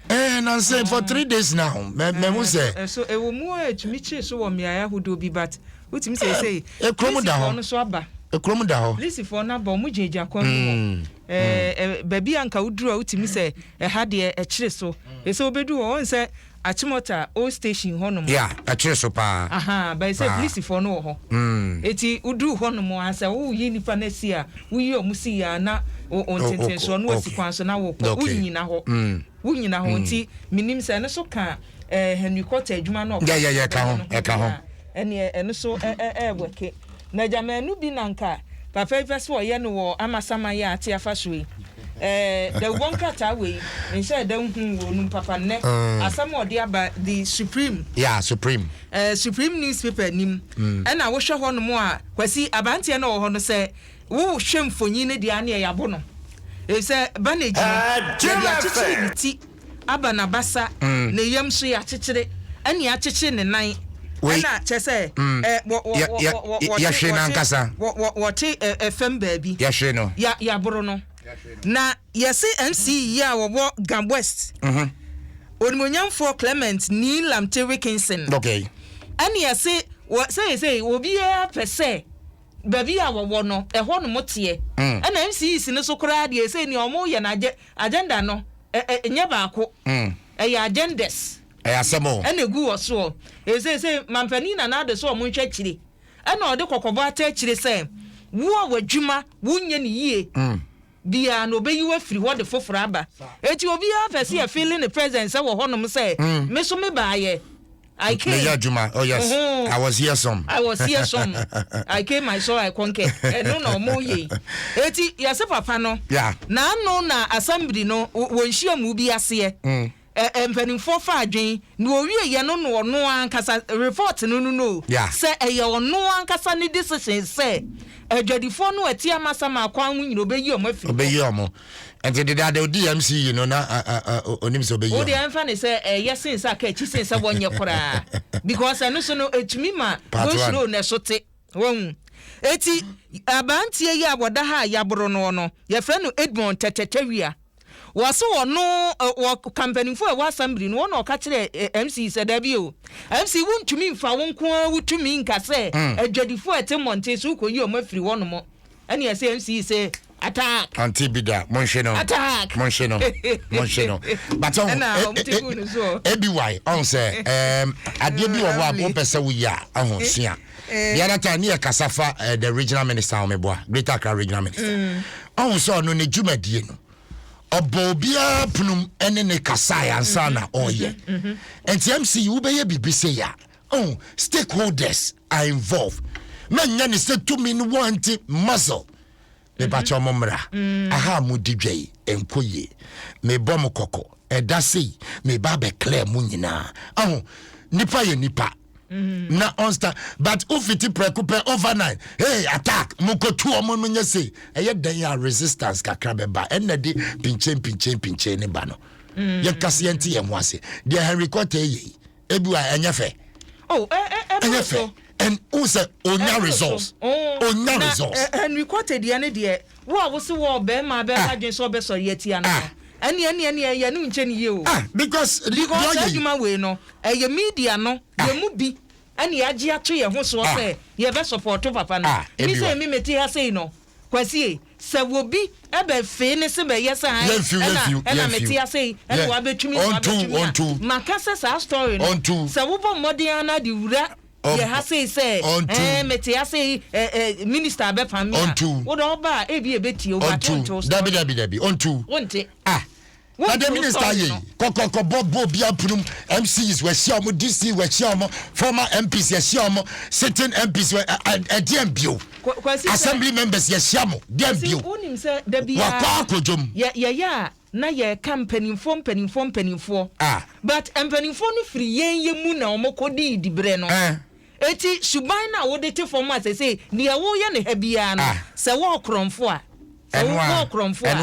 Ɛɛ, eh, nansa for three days now. Mɛ mɛ ho sɛ. Ɛso eh, ɛwɔ mu a eh, ɛtumi kyere so wɔ mmeaeɛ ahodoɔ bi but wotumi sɛ ɛsɛ. Ekurom da hɔ. no so aba. Ekurom da hɔ. Lisifoɔ no aba wɔn gyinagyina kwan mu hɔ. Mm, ɛɛ mm. eh, baabi a nka woduru a wotumi sɛ ɛha deɛ ɛkyere so. Ɛsɛ wobɛdu hɔ wɔn sɛ akyemɔta old station hɔnom. ya ɛkyere so paa. aha bɛyɛ sɛ polisifoɔ no wɔ hɔ. Mm. eti woduru hɔnom a sɛ woyi nipa no asi a. Wo yi ɔmo si yia na wo wo ntenten soɔ na wasi kwan so na wo kɔ wo nyina hɔ wo nyina hɔ nti me nim sɛ ɛno so ka ɛɛ Henry Cotter adwuma na ɔkɔ yɛ yɛ ka ho ɛka ho ɛneɛ ɛno so ɛɛ ɛɛ wɛke na gya mɛ ɛno bi na nka papa yi pɛ so ɔyɛ no wɔ amasama yɛ ate afa so yi ɛɛ dɛ wɔ nkrataa wɔ yi nhyɛ ɛdɛ nhu wɔ onum papa nnɛ asɛm ɔde aba the supreme yeah supreme Eh, Supreme Newspaper nim. Ɛna wohwɛ hɔ nom a, Kwasi, abranteɛ no a ɔwɔ hɔ no, sɛ wo hwɛ mfonyin no deɛ a neɛ yabo no. Efisɛ banage no, yɛde akyekyere ne ti, aba n'abasa, ne yam nso yɛakyekyere, ɛne yɛakyekyere ne nan. Ɛna kyerɛ sɛ, eh, wɔ, wɔ, wɔ, wɔ, wɔ, wɔte, wɔte, wɔ, wɔ, wɔte, eh, eh, fam baabi. Yɛahwere no. Ya, yaboro no. Na yɛse MC yi a ɔwɔ Gam West, Onimuonyamfoɔ Clement Nii Lamte Wickinson, ɛne yɛse wɔ seisei obiara pɛ sɛ baabi a wɔwɔ no ɛhɔ nom teɛ. Mm. Ɛna MCs no so koraa deɛ sei nea wɔn yɛ no agenda no nyɛ baako. Mm. Ɛyɛ agendas. Ɛyɛ asɛm o. Ɛna egu wɔ soɔ. Ɛsɛ sɛ mampanin na n'ade so wɔn nhwɛ akyire. Ɛnna ɔde kɔkɔbɔ ata akyire sɛ, Wo a w'adwuma, wonyɛ no yie biara no, ɔbɛyi wo afiri hɔ de foforɔ aba. Enti obiara pɛ sɛ yɛfeele ne presence wɔ hɔnom sɛ, Me nso mebaeɛ. I came. Meyɛ adwuma. Oh, yes. Uh-huh. I was here some. I was here some. I came, I saw, I conquered. Ɛno na wɔyɛ yi. Enti yɛse papa no, Yeah. n'ano na assembly no, wɔ nhyiamu bi aseɛ, Ɛ ɛ mpanimfoɔ fa adwene na wɔwie yɛ no na ɔno ankasa report no no no o yeah. sɛ ɛyɛ ɔno ankasa ne decision sɛ adwadifoɔ no ɛte amasama akwan ho nyina ɔbɛyi ɔmo afiri hɔ ɔbɛyi ɔmo nti dedaada odi mc yi no na onim sɛ ɔbɛyi ɔmo wodeɛ ɛmfa ne sɛ ɛyɛ sen sɛ aka akyi sen sɛ wɔnyɛ koraa because ɛno so no ɛtumi ma wɔsuro na ɛso te wɔhu ɛti abanteɛ yi a wɔda ha a yɛaboro no no yɛfrɛ no Edmond tɛtɛtɛwia Wɔse wɔno wɔ ka mpanimfoɔ a ɛwɔ assembly no wɔna ɔka kyerɛ MC sɛ daabi o MC wontumi nfa wo nko ara wo tumi nka sɛ adwadifoɔ a ɛte mmɔnten so wokɔyi wɔn afiri hɔ nom ɛne ɛse MC se attack Ɔnte bi da monhwe no attack monhwe no monhwe no but ɔho ɛna e- wɔn e- te e- gu no soɔ. ABY ɔho sɛ ɛɛm adeɛ bi wɔ hɔ a wopɛ sɛ woyɛ a ɔho sua the other time ne yɛ kasa fa uh, the regional minister ɔmeboa greater accra regional minister mm. ɔhu mm. sɛ ɔno ne dwumadie no ɔbɔ obiara punum ɛne ne kasae ansa na mm-hmm. ɔyɛ mm-hmm. mm-hmm. nti mc wobɛyɛ biribi sɛ yɛ oh, stakeholders are involved mɛnyɛ ne sɛ tumi no wɔnte muscle mepakyɛ mo mmra mm. aha mo di dwa yi ɛnkɔ yie mebɔ mo kɔkɔ ɛda sei meba abɛklɛ mo nyinaa aho nipa yɛ nipa mm. na ɔnsta but wofiti prɛko pɛ overnight hey attack mokɔtu ɔmo no nyɛ sei ɛyɛ dɛn a resistance kakra bɛba ɛnna de pinkyɛn pinkyɛn pinkyɛn ne ba no mm. yɛnkase yɛnte yɛn ho ase deɛ henry kɔtɛ yɛ yi ebi wa ɛnyɛ fɛ oh ɛ ɛ ɛ ɛnyɛ fɛ ɛn o sɛ o nya results o nya results. na henry kɔte deɛ ne deɛ wo a wose wɔ bɛrima bɛrima ah. adwene sɛ ɔbɛ sɔre atia no ah. ɛne ɛne ɛne ɛyɛ ne nkyɛn ne yie o. ah because because saa adwuma wei no ɛyɛ media no ah. yɛ mu bi ɛne yɛagye ato yɛn ho soɔ sɛ yɛbɛ sɔpɔɔto papa no ne sɛ mi mete ha sei no Kwasie, sɛ wobi bɛ fee ne se bɛ yɛ saa he, ɛna ɛna me te ase yi, ɛna wa bɛ twimi, wa bɛ twimi a, ma ka sɛ saa story no, sɛ wo bɔ mmɔden ara na de wura yɛ ha sei sɛ, ɛɛ me te ase yi, ɛɛ ɛɛ minister bɛ pam me a, wo de ɔba a, ebi a ebe tie wo, but wo nte wo story. Dabi dabi dabi, ɔnte wo. Wo nte. Ah, Na de minister ye kɔkɔkɔ bɔ bɔ obi apunum MCs wɔ ahyia ɔmo DC wɔ ahyia ɔmo former MPs yɛ ahyia ɔmo sitting MPs wɔ ɛdeɛn bio assembly members yɛ ahyia mo deɛn bio wakɔ akodwom. Yɛyɛ a na yɛka mpanimfoɔ mpanimfoɔ mpanimfoɔ but mpanimfoɔ no firi yɛn yɛ mu na ɔmo kɔ dii dibrɛ no. Enti suban no a wode te fam a seesei deɛ woreyɛ no ha biara no, sɛ wɔɔ korɔmfo a, sɛ wo, wɔɔ korɔmfo a,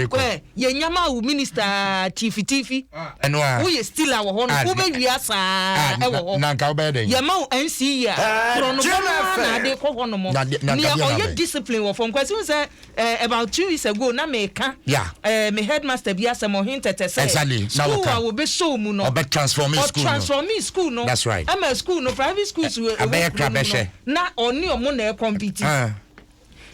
kɔ ɛ, yɛnya maa wo minister a, tiifitiifi, woyɛ stiller wɔ hɔ nom, wobɛwia saa ara wɔ hɔ, yɛma wo NCE a, korɔnobɔ no ara na ade kɔ hɔ nom, nea ɔyɛ discipline wɔ fam, Kwasi wohu sɛ Eh, about two weeks ago na meka Yeah. eh, me headmaster bi asɛm ɔhen tɛtɛ sɛ Exactly, na school wɔka. a wɔbɛsɔɔ mu no Ɔbɛ transform me school no. ɔtransforme school no That's right. ɛma school no private schools wɔ ɛwɔ abɛyɛ kuro no mu no krabɛhwɛ. na ɔne ɔmo na ɛkɔmpiti Ah,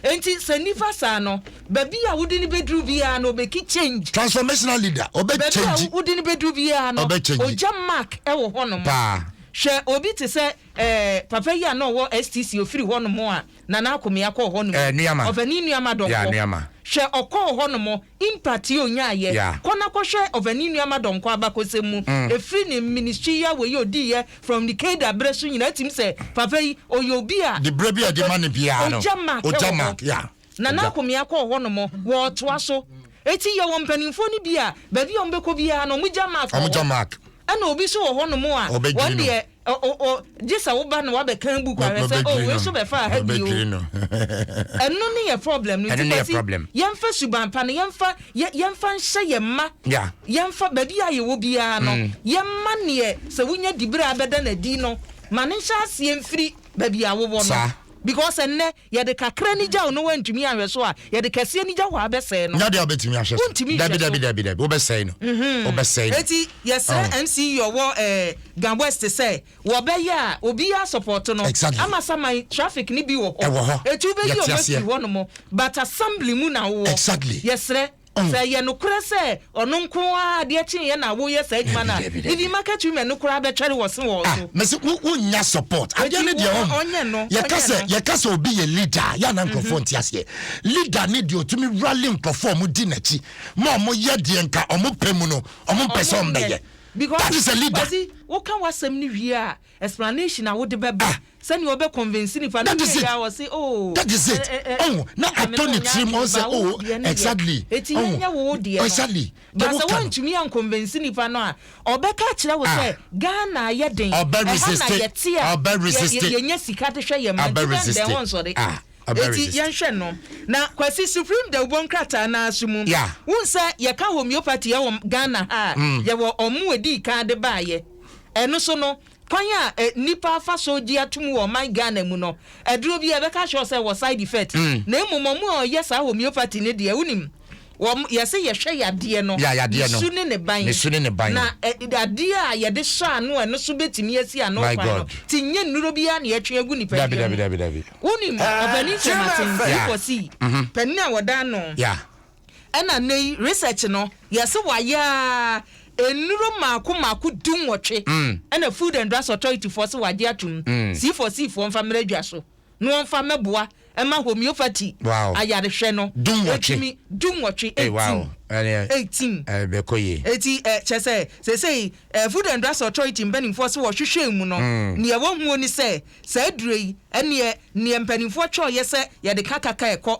nti sɛ nifa saa no baabi a wode no bɛduru biara no ɔbɛki change transformational leader ɔbɛ baabi a change wode no bɛduru biara no Ɔbɛ change. ɔgya mark ɛwɔ hɔnom paa. hwɛ obi te sɛ eh, papa yi a na ɔwɔ stc ɔfiri hɔnom a Nana Akomea kɔɔ hɔ nom. Nuama. Ɔfɛ ne nuama dɔnkɔ. Yeah, nuama. Hwɛ, ɔkɔɔ hɔ nom, impact yi onyaa yɛ. Yeah. Kɔ na kɔ hwɛ ɔfɛ ne nuama dɔnkɔ abakɔsɛm mu. Mm. Ɛfiri ne ministry yi awɔ yi ɔdii yɛ from ne Keda berɛ so nyinaa, ɛtim sɛ papa yi ɔyɛ obi a. De berɛ bi a ɛde ma no biara no. Ɔgya mark wɔ hɔ. Yeah. Nana Akomea kɔɔ hɔ nom, wɔɔtoa so. Ɛti yɛ wɔ mpaninfoɔ no bi a, baabi a wɔn bɛkɔ biara no, wɔn gya mark wɔ hɔ. Wɔn gya mark. Ɛna obi so wɔ hɔ nom a, wɔn deɛ. O o o gye sɛ wo ba no wabɛ kan book ahwɛ sɛ o wei so bɛ faa ha bi o ɛno ne yɛ problem no nti kwasi yɛn fa suban pa no yɛn fa yɛn fa nhyɛ yɛn mma yɛn fa baabi a yɛwɔ biara no mm. yɛn mma neɛ sɛ wonya dibere a bɛda no adi no ma ne nhyɛ aseɛ mfiri baabi a wowɔ no because ɛnɛ Yɛde kakra ani gyaw no woantumi anhwɛ so a yɛde kɛse ani gyaw hɔ a bɛsɛe no. Nyɛ adeɛ a wobɛtumi ahwɛ so. Wontumi nhwɛ so. Dabi dabi dabi dabi wobɛsɛe no. Wobɛsɛe no. Enti yɛsrɛ Oh. MC yi ɔwɔ eh, Ga West sɛ wɔbɛyɛ a obiara asɔpɔto no. Exactly. Ama saman traffic no bi wɔ hɔ. Ɛwɔ hɔ. Eti wobɛyi Yɛte wɔn aseɛ. afiri hɔnom but assembly mu na wowɔ. Exactly. Yɛsrɛ. Sɛ ɛyɛ nokorɛ sɛ ɔno nko ara adeɛ kyeeɛ na woyɛ saa adwuma no a, Dabi, dabi, even dabi. market women no koraa bɛtwɛre wɔ se wɔ wo Ah, so. mese wo wonnya support. Adeɛ Enti no deɛ wo- ɔn- ɔnyɛ no, yɛka ɔnyɛ sɛ no. yɛka sɛ obi yɛ leader a, yɛ a na nkurɔfoɔ nte aseɛ. Leader ne deɛ ɔtumi rally nkurɔfoɔ a wɔdi n'akyi ma wɔyɛ deɛ nka wɔpɛ mu no, wɔmpɛ sɛ wɔbɛyɛ. That is a leader. Ɔsi, woka w'asɛm no wie a, Explanation a wode bɛba sɛnea wobɛ convince nipa no wie a ɔse oo Nyame no ɔnyɛ adwene ba wo deɛ ne deɛ eti yɛnyɛ wo wo deɛ no but sɛ woantumi an convince nipa no a ɔbɛka akyerɛ wo sɛ Ghana ayɛ den ɛha na yɛte a yɛnya sika de hwɛ yɛn mma gyina ndɛn wɔnsɔre Eti yɛnhwɛ no. Na Kwasi, Supreme Dawubɔ nkrataa no ara so mu, wohu sɛ yɛka homeopathy wɔ Ghana ha a, yɛwɔ wɔn a wɔdii kan de baeɛ. Ɛno nso no, kwan a nnipa fa so gye atom wɔ ɔman Ghana mu no, aduro biara yɛbɛka akyerɛ wo sɛ ɛwɔ side effect. Na mmom wɔn a wɔyɛ saa homeopathy no deɛ, wonim, Wɔn, yɛse yɛhwɛ yadeɛ no, Ya yadeɛ ne no, su ne ne ban. ne su ne ne ban. Na ɛ, adeɛ a yɛde hyɛ ano a ɛno so bɛtumi asi ano My kwan no, God. te nyɛ nnuro bi ara na yɛtwe agu Dabi, nipadua dabi, mu. dabi, dabi. Wonim, Ɔpanin Sir Martin C. Yeah. Forsey, panin a wɔda ano, Ya. ɛna nnɛ yi research no, yɛse wayɛ ara, nnuro mmaako mmaako dunwɔtwe ɛna Food and Drugs Authority foɔ se wɔagye atom, C. Forsey foɔ mfa mmra dwa so. na wɔmfa mmɛboa mma homeopathy ayarehwɛ no. Dunwɔtwe. Dunwɔtwe, eighteen. Eighteen. Ɛbɛkɔ yie. Eti ɛ kyɛ sɛ sesei ɛ Food and Drugs Authority mpanimfoɔ so wɔhwehwɛɛ mu no, neɛ wɔhuo ne sɛ saa aduro yi ɛneɛ neɛ mpanimfoɔ twɛɔyɛ sɛ yɛde ka kaka ɛkɔ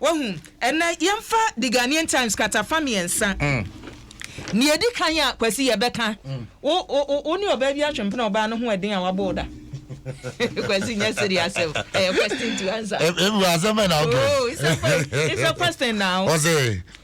Wahu? Ɛnnɛ, yɛmfa The Ghanaian Times kratafa mmiɛnsa. Nea edi kan a Kwasi yɛbɛka, wo, wo, wo, wo ne ɔbaa bi atwempena ɔbaa no ho ɛden a wabɔ wo da. Kwasi nyɛ siri asɛm. Ɛyɛ question to answer. Ebu asɛm bɛ na ɔkɛ. Oh, it's a question. It's a question now. Ɔsɛ.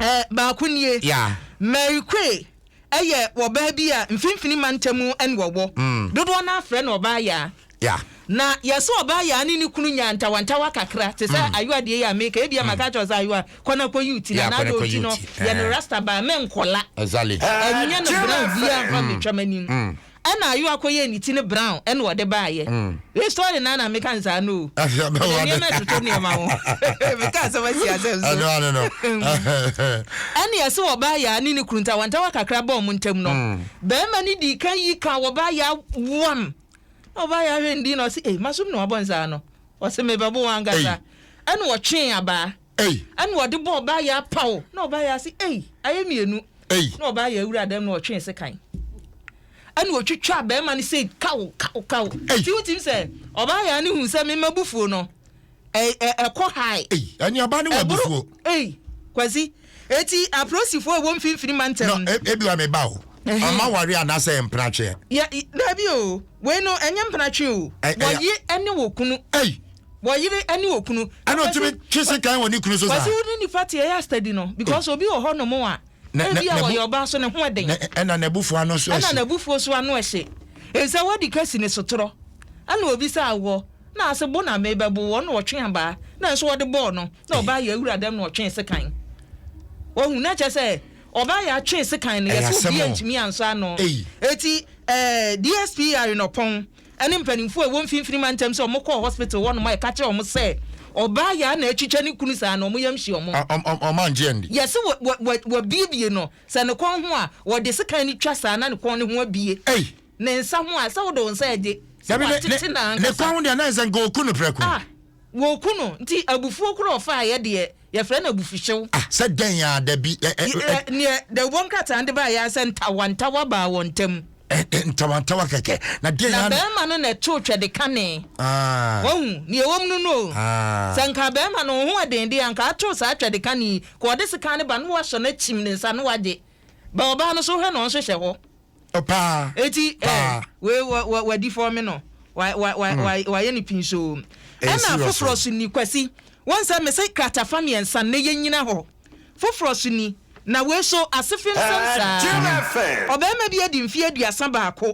Eh, baako nie. Yeah. Mary Quay yɛ wɔbaa bi a mfimfini mantam na wɔwɔ. Mm. Dodoɔ no afrɛ no ɔbaa yaa. Yeah. Na yɛsɛ ɔbaa yaa ne ne kunu nyaa ntawantawa kakra te sɛ mm. ayoa deɛ yɛ a meka ebia mm. maka kyerɛ sɛ ayoa kɔ na kɔyi wo ti na n'ade ɔti no yɛ no eh. rasta baa mɛ nkɔla. Ɛnyɛ no brɛ obiara mfa mm. metwam anim. Ɛna ayo akɔyɛɛ ne ti no brown ɛna ɔde baayɛ. This story na na meka no saa no o. Ɔde nneɛma ɛtoto nneɛma ho. Meka asɛm asi asɛm so. Ɛno ano no. Ɛne ɛse wɔ baa yaa ne ne kunu ntawantawa kakra baa ɔmo ntam no, bɛɛma no dii kan yi kaa wɔ baa yaa wam. Na ɔbaa yaa hwɛ ne din na ɔse ei, masom na wabɔ no saa no. Ɔse mebɛbo wo ankasa. Ɛna ɔtwee abaa. ei. Ɛna ɔde bɔɔ Ɔbaayaa paw, na Ɔbaayaa se, ei, ayɛ mmienu. Ei. Na Ɔbaayaa wuraa dɛm na ɔtwee sekan. Ɛna ɔtwitwaa barima no sei kaw, kaw, kaw. Ei. Ti wotim sɛ Ɔbaayaa no hu sɛ me mma bufuo no, ɛ, ɛ, ɛkɔ high. Ei, anuaba no wɔ abufuo. Ei, Kwasi, eti aprosifoɔ a ɛwɔ mfimfini mantam no. Na, ebi wa me ba o. Ama ware anaasɛ mpenatweɛ. Yɛ, daabi o, wei no, ɛnyɛ mpenatwe o. Wɔye ɛne wɔ kunu. Ei. wɔyere ne okunu. ɛna otumi twe sekan wɔ ne kunu so saa. wɔsi wo ne nipa te ɛyɛ asitadi no because obi wɔ hɔ nom a ebi a wɔyɛ ɔbaa so ne ho ɛden. ɛna n'abufuo ano so ɛhye. ɛna n'abufuo so ano ɛhye nsɛ wadi ka si ne sotorɔ ɛna obi sɛ awɔ na ase bo na me bɛbo wɔ na ɔtwe abaa na nso ɔde bɔɔ no na ɔbaa yɛ awura dɛm na ɔtwe sekan wɔhu na kyɛ sɛ ɔbaa yɛ atwe sekan no yɛsɛ obi ntumi ansɔ ano eti ɛɛ DSPR nɔpɔn. ɛne mpanimfoɔ a ɛwɔ mfimfini mantam sɛ wɔn kɔɔ hospital hɔ nom a ɛka kyerɛ wɔn sɛ ɔbaa yaa na atwitwa ne kunu saa no wɔn yam hye wɔn. Wɔn angye anni. Yɛse wɔ wɔ wɔ wɔbiebie no sɛ ne kɔn ho a wɔde sekan no twa saa na ne kɔn no ho abie. Ei. Ne nsa ho a ɛsɛ wode wo nsa ɛgye sɛ wɔatete na ankasa. Ne kɔn ho deɛ na ɛsɛ nka oku no prɛko. Ah. Wɔku no, nti abufuo koro a ɔfaaeɛ deɛ, yɛfrɛ no abufuhyew. Ah, sɛ dɛn ara, dabi, ɛ, ɛ, ɛ. Ɛ, neɛ dawubɔ nkrataa no de baeɛ ara sɛ ntawantawa baa wɔn ntam. Ɛ, ɛ, ntawantawa kɛkɛ, na dɛn ara na. Na barima no na ɛtoo twɛ de kanee. Ah. Wahu, deɛ ɛwom no no o. Ah. Sɛ anka barima no ho yɛ den deɛ, anka watoo saa twɛ de kane yi, ka ɔde sekan no ba na wahyɛ no akyim ne nsa na wagye. Ba ɔbaa no so hwɛ na ɔnhwehwɛ hɔ. paa eti paa wei wɔ wɔ wadi fɔɔ mi no wa wa wa wa wayɛ ne pin so ɛna foforɔ so ni kwasi wɔn sɛ mese kratafa mmiɛnsa ne yɛ nyina hɔ foforɔ so ni na wei so ase fem fem saa ɔbɛrima bi adi mfie aduasa baako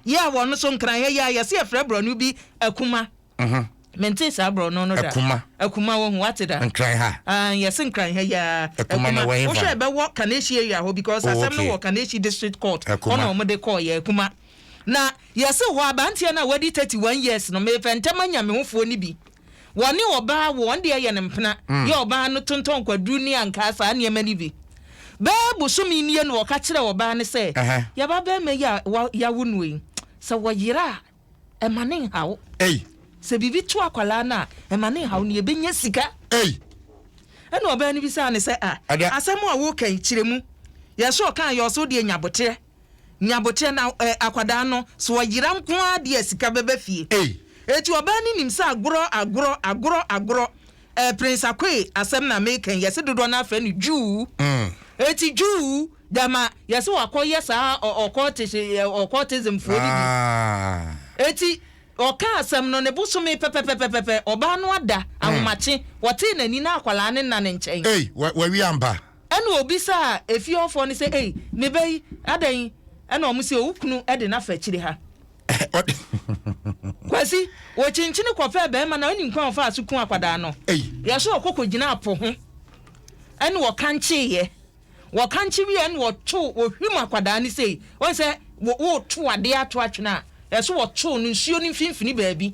yɛ a wɔn so nkran ha yɛ a yɛse yɛfrɛ borɔno bi akuma Mhm. Mentee saa borɔno no da. Akuma. Akuma wahu wate da. Nkran ha. Ah, yɛse nkran ha yiaa. Akuma no wɔ hefa? Wohwɛ ɛbɛwɔ Kaneshie area hɔ because Oh, asɛm no okay. wɔ Kaneshie district court hɔ Akuma. na wɔde kɔɔ yɛ Akuma. Na yɛse hɔ abanteɛ no a wadi 31 years no mefɛ ntɛm anya me hofoɔ no bi. Wɔne ɔbaa wo, wɔn deɛ yɛ no mpena. Yɛ ɔbaa no tontɔn kwaduru ne ankaa saa nneɛma no bi. Bɛɛ bosome nie na ɔka kyerɛɛ ɔbaa no sɛ Ɛhɛ. yɛba bɛɛma yi a wa, yɛawo no yi, sɛ wɔyera a, ɛma ne nhaw. Ei. Sɛ biribi to akwadaa no a, ɛma ne nhaw. Nea ɛbɛnya sika. Ei. Ɛna ɔbaa no bisaa no sɛ, a, Ada. asɛm a woreka yi, kyerɛ mu. Yɛsɛ ɔkaa yɛ ɔsɛ wodeɛ nya boterɛ. Nya boterɛ na ɛ, akwadaa no, sɛ ɔyera nko ara deɛ a sika bɛba fie. Ei. Enti ɔbaa no nim sɛ agorɔ, agorɔ, agorɔ, agorɔ. Eh Prince Akoe asɛm na meka yi, yɛse dodoɔ no ara frɛ no Jew. Enti Jew dɛma yɛse wakɔ yɛ saa occultish occultism foɔ no bi. Enti ɔkaa asɛm no ne bosome pɛpɛpɛpɛpɛ ɔbaa no ada ahomakye wɔtee n'ani na akwadaa no nna ne nkyɛn. Ei wawie ampa. Ɛna ɔbisaa efie hɔfoɔ no sɛ ei me ba yi adɛn ɛna wɔn se owukunu de no afa akyire ha. kwasi wɔkyinkyini kɔpɛɛ bɛrima na ɔnim kwan ɔfaa so ku akwadaa no yɛ so ɔkɔkɔ gyina apo ho ɛne wɔkankyeeɛ wɔkankye wie ɛne wɔto wɔhwim akwadaa no sei wɔn sɛ wɔto adeɛ ato atwene a yɛ so wɔto no nsuo no mfimfini baabi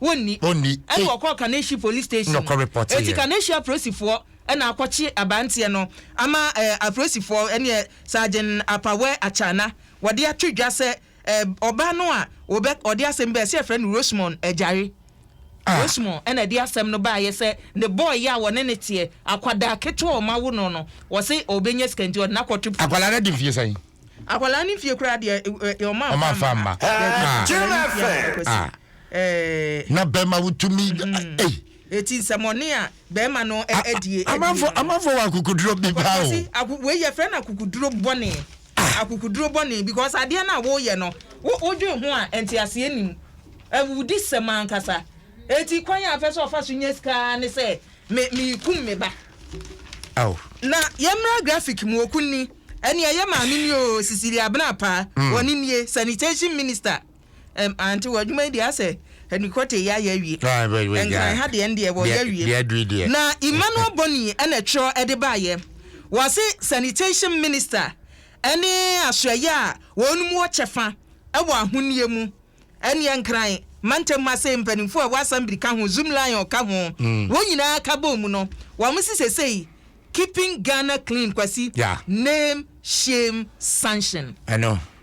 Wonni. Ɔnni. Ɛna wɔkɔɔ Kaneshie Police Station. Na ɔkɔrepɔteeɛ. Enti Kaneshie apolisifoɔ na akɔkye aberanteɛ no ama eh, apolisifoɔ ɛneɛ Sergeant Apawɛ Akyana wɔde ato dwa sɛ eh, ɔbaa no a wɔbɛ, ɔde asɛm bɛɛ sɛ yɛfrɛ no Rosemond Agyare. Ah. Rosemond ɛna ɛde asɛm no baeɛ sɛ ne bɔɔyɛ a wɔne ne teɛ, akwadaa ketewa a wɔawo no no, wɔse ɔbɛnya sika nti ɔde no akɔto pii. Akwadaa no adi mfeɛ sɛn? Akwadaa no mfeɛ koraa deɛ eh, eh, wɔn amfa Wɔn amfa amma. mma. Daabi, Ah. akwadaa no mfeɛ amfa kwasi. Ah. na bɛrima wotumi ei eti nsɛmɔne a bɛrima no adie amanfo amanfo wɔ akukuduro bi paa o wei yɛfrɛ no akukuduro bɔne akukuduro bɔne because adeɛ no a woyɛ no wodwen ho a nteaseɛ nim awudi sɛm ankasa eti kwan a afɛ sɛ ɔfa so nyɛ sika ne sɛ me mekum me ba na yɛmmra graphic mu okunni ɛne ɛyɛ maame ni o sisili abena paa wɔne nie sanitation minister Ɛm aunty wɔ adwuma yi deɛ asɛ ɛni kɔte yɛ ayɛ awie. Nkran ha deɛ ndeɛ wɔ yɛ awie. Na Emmanuel Boni ɛna ɛtwerɛ ɛde baa yɛ. Wɔse sanitation minister ɛne asoɛyɛ a wɔn mu wɔ kyɛfa ɛwɔ ahoniɛ mu. Ɛneɛ Nkran mantam mu asei mpaninfoɔ a ɛwɔ assembly ka ho, Zoom lion ka ho, wɔn nyinaa ka bɔɔ mu no wɔn se sesei keeping Ghana clean Kwasi name shame sanction. Ɛno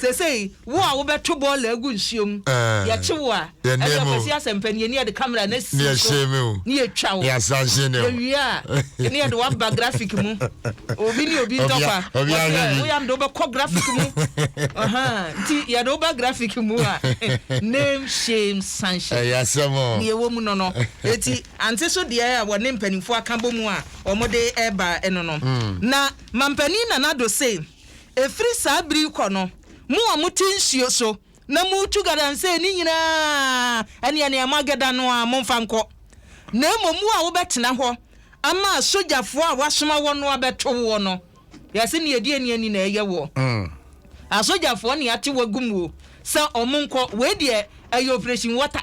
Seesei, wo a wobɛto bɔɔla agu nsuo mu, yɛkye wo a, ɛnneɛ Kwasi Asɛmpɛ ne yɛn ni yɛde kamera no asi wo so ne yɛtwa wo. Yɛwie a, ne yɛde wo aba grafik mu. Obi ne obi ntɔkwa, wɔse ɛ, woyɛ a mede wo bɛkɔ grafik mu. Ahaa, nti yɛde wo ba grafik mu a, name, shame, sanhyɛ. Deɛ ɛwɔ mu no no. Enti, ante so deɛ a wɔne mpanimfoɔ aka bɔ mu a wɔde reba no no. Na Mampanin Nana Addo se, Ɛfiri saa bere yi kɔ no, mo a mote nsuo so na moretu galamsey no nyinaa, ɛnneɛ nea moagɛda no ara momfa nkɔ, na mmom wo a wobɛtena hɔ ama asogyafoɔ a wɔasoma wɔn no abɛto woɔ no, yɛse nea ɛdi ani ani na ɛyɛ woɔ. Asogyafoɔ nea ate wo agum o, sɛ wɔn nkɔ, wei deɛ ɛyɛ operation water.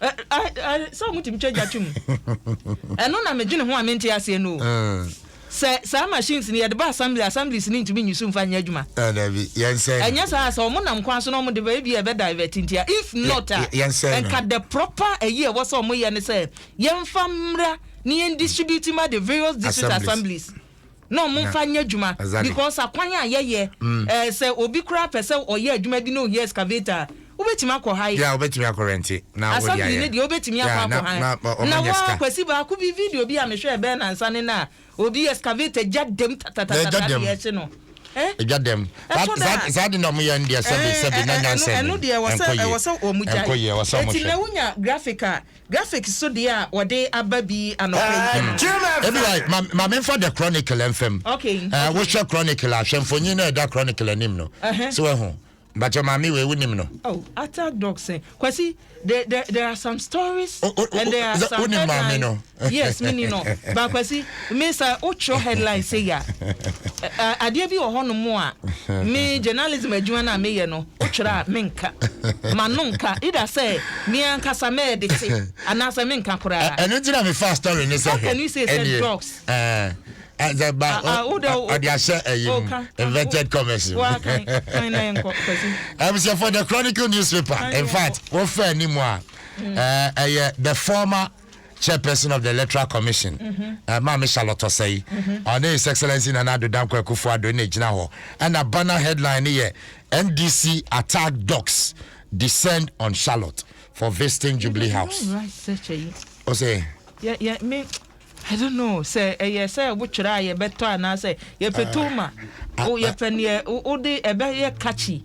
sɛ wɔtumi twa gya twom ɛno na medwene ho a mente aseɛ no sɛ saa machines no yɛde ba assembly assemblies no ntumi nyi so mfa nyɛ adwuma ɛnyɛ saa sɛ wɔn nam kwan so na wɔn de bɛyɛ bi a ɛbɛ divert ntia if not a nka the proper ɛyi ɛwɔ sɛ wɔn yɛ no sɛ yɛmfa mmra ne yɛn distribute ma the various district assemblies na ɔmo nfa nyɛ adwuma because akwan a yɛyɛ ɛɛ sɛ obi koraa pɛ sɛ ɔyɛ adwuma bi na ohia excavator a wobɛtumi akɔ han Yeah wobɛtumi akɔ rɛnte na wode ayɛ Assembly no deɛ wobɛtumi akɔ Yeah na akɔ han na ɔmo Na nya wɔ sika Kwasi baako bi video bi a mehwɛ ɛbɛyɛ nansa ne no a obi excavator gya dɛm Na ɛgya tatatata na dɛm yɛɛhye no ɛ ɛgya dɛm Saa ɛtɔ da saa a saa de na ɔmo yɛ no deɛ sɛbe ɛɛ sɛbe na ɛ ɛ ɛno nyansa ɛno nnim deɛ ɛwɔ sɛ ɛnkɔ yie ɛwɔ sɛ ɔmo gyae ɛnkɔ yie ɛwɔ sɛ ɔmo Eti hwɛ. na wonya graphic a Graphics so deɛ a wɔde aba bi anɔpa yi. Ebia ma ma menfa the chronicle mfam. Okay. Eh, wohwɛ chronicle a hwɛ mfonyin na ɛda chronicle anim no. Uh-huh. So ɛho. Mpakyɛ maame wei wonim no. Oh, attack dogs. eh. Kwasi, there, there, there are some stories O- o- o- and there are the- some wonim maame headlines. no. yes, mini no. But Kwasi, Me sɛ wo twerɛ headline sei a, adeɛ bi wɔ hɔ nom a, me journalism adwuma no a me yɛ no, wo twerɛ a me nka, ma no nka, either sɛ me ankasa mɛ ɛde te, anaa sɛ me nka koraa. Ɛno ti na me fa story ne sɛ hwɛ. How can you say sɛ drugs? Ɛɛ, ba, ɔde ahyɛ ɛyi mu, invented commerce mu. Wa kan, kan na yɛn kɔ, kwasi. Ɛbisɛ for the Chronicle newspaper, in fact, wofɛ ni mu a, ɛyɛ the former. Chairperson of the Electoral Commission, Maame Charlotte Osei, ɔne His Excellency Nana Addo Dankwa Akufo-Addo na egyina hɔ. Ɛna banner headline no yɛ NDC Attack Dogs Descend on Charlotte for Visiting Jubilee House. Ose. Yeah, yeah, me, I don't know. Sɛ ɛyɛ sɛ wotwerɛ a yɛbɛtɔ anaasɛ yɛpɛ too ma yɛpɛ neɛ wode ɛbɛyɛ catchy.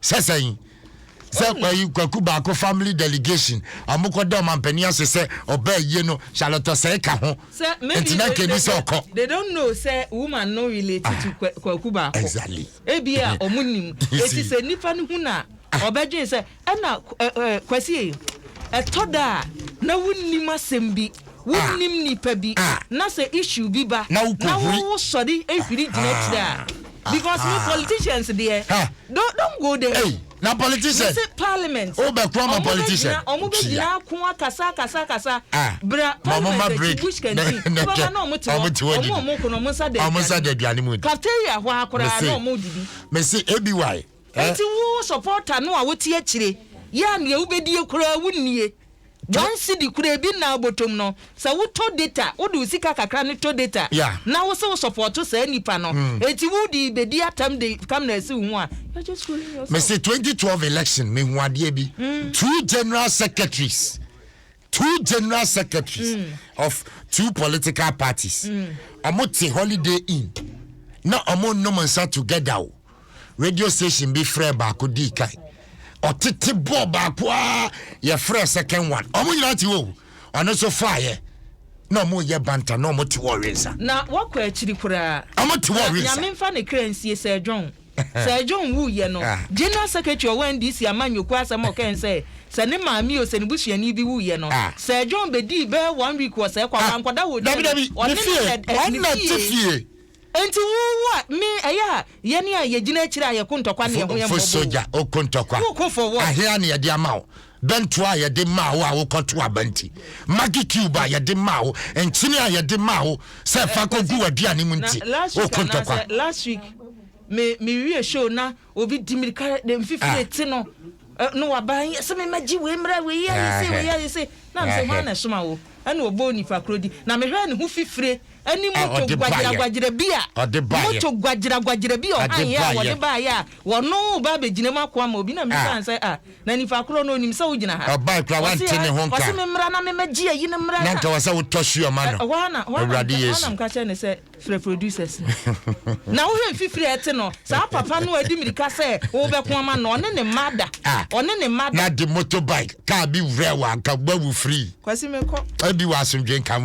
Sɛ sɛn? Sɛ kwayi kwaku baako family delegation a wɔkɔda ɔmampanin ase sɛ ɔbaa yie no Charlotte Osei ka ho. Nti na nka ɛni sɛ ɔkɔ. They don't know sɛ woman no relate to kwaku baako. Exactly. Ebia wɔn nim. Eti sɛ nipa no hu na ɔbɛdwen sɛ ɛna kwasie ɛtɔ da a na wonim asɛm bi. Wo nnim nipa bi na sɛ issue bi ba na wo wo sɔre hwiri gyina akyire a because me politicians deɛ don't don't go there o Na politician me se parliament o bɛ kura ma politician ɔmo bɛ gyina ɔmo bɛ gyina ako akasa akasa akasa bra parliament akyi bush kanti wo bɛ ba na ɔmo te hɔ ɔmo ɔmo ko na ɔmo nsa da aduane mu cafeteria hɔ a koraa na ɔmo didi. Me se ABY. Enti wo supporter no a wote akyire yi a nea wobɛdie koraa wonnie, one cedi koraa ebi nna abotom no, sɛ wotɔ data, wode wo sika kakra no tɔ data na wose wo supporto saa nipa no, enti wode rebɛdi atam de camera asi wo ho a, you're just fooling yourself. Mese twenty twelve election mehu adeɛ bi, two general secretaries Two general secretaries of two political parties ɔmo te holiday inn na ɔmo nnom nsa together o radio station bi frɛ baako dii kan ɔtete bɔɔ baako a yɛfrɛ second one ɔmo nyinaa te hɔ o ɔno nso faayɛ na ɔmo yɛ banta na ɔmo te hɔ ɔwe nsa na wɔkɔ akyiri koraa ɔmo te hɔ na ɔwe nsa. nyame mfa ne kra nsie sɛ dwon. Sir John wuiɛ no, General Secretary a ɔwɔ NDC amanyɔkuo asɛm a ɔkae ne sɛ, sɛ ne maame o, sɛ ne busuani bi wuiɛ no, Sir John bɛdii bɛyɛ one week wɔ Sɛɛkwa, wankɔda wɔ fie no, ɔne no na ɛɛ, ne fie. Enti wo wo a, me, ɛyɛ a, yɛn a yɛgyina akyire a yɛko ntɔkwa ne yɛn ho yɛn mmɔbɔ o, woko for what? Bɛntoa a yɛde maa wo a wokɔtow aba nti, Maggi cube a yɛde maa wo, nkyene a yɛde maa wo sɛ fa kogu w'aduane mu nti, o ko ntɔkwa. Last week me me wie show na obi di mirika de mfifiri ah. ti no eh, no waba yɛ sɛ mema gye wei mmra wei ayɛ sɛ wei ayɛ sɛ na mesɛ hwan na ɛsoma wo ɛna ɔbɔ nipa koro di na mehwɛ ne ho fifire ɛne moto gwagyeragwagyera bi a moto gwagyeragwagyera bi a ɔhan yɛ a wɔde baeɛ a wɔno ba abɛgyina mu akoa ma obi na mesan sɛ a na nipa korɔ no onim sɛ wogyina ha ɔse me mmra na memɛgye ayi no mmra na nka wɔ sɛ wotɔ si ɔma no ɛhɔ ana awurade yesu anam ka kyerɛ ne sɛ frɛ producers no na wohwɛ mfifiri a ɛte no saa papa no adi mirika sɛ wobɛko ama no ɔne ne mma da ɔne ne mma da na de motorbike kaa bi wurɛ wɔ anka wawu free kwasi mekɔ ɛdi wɔ asomdwe nka mu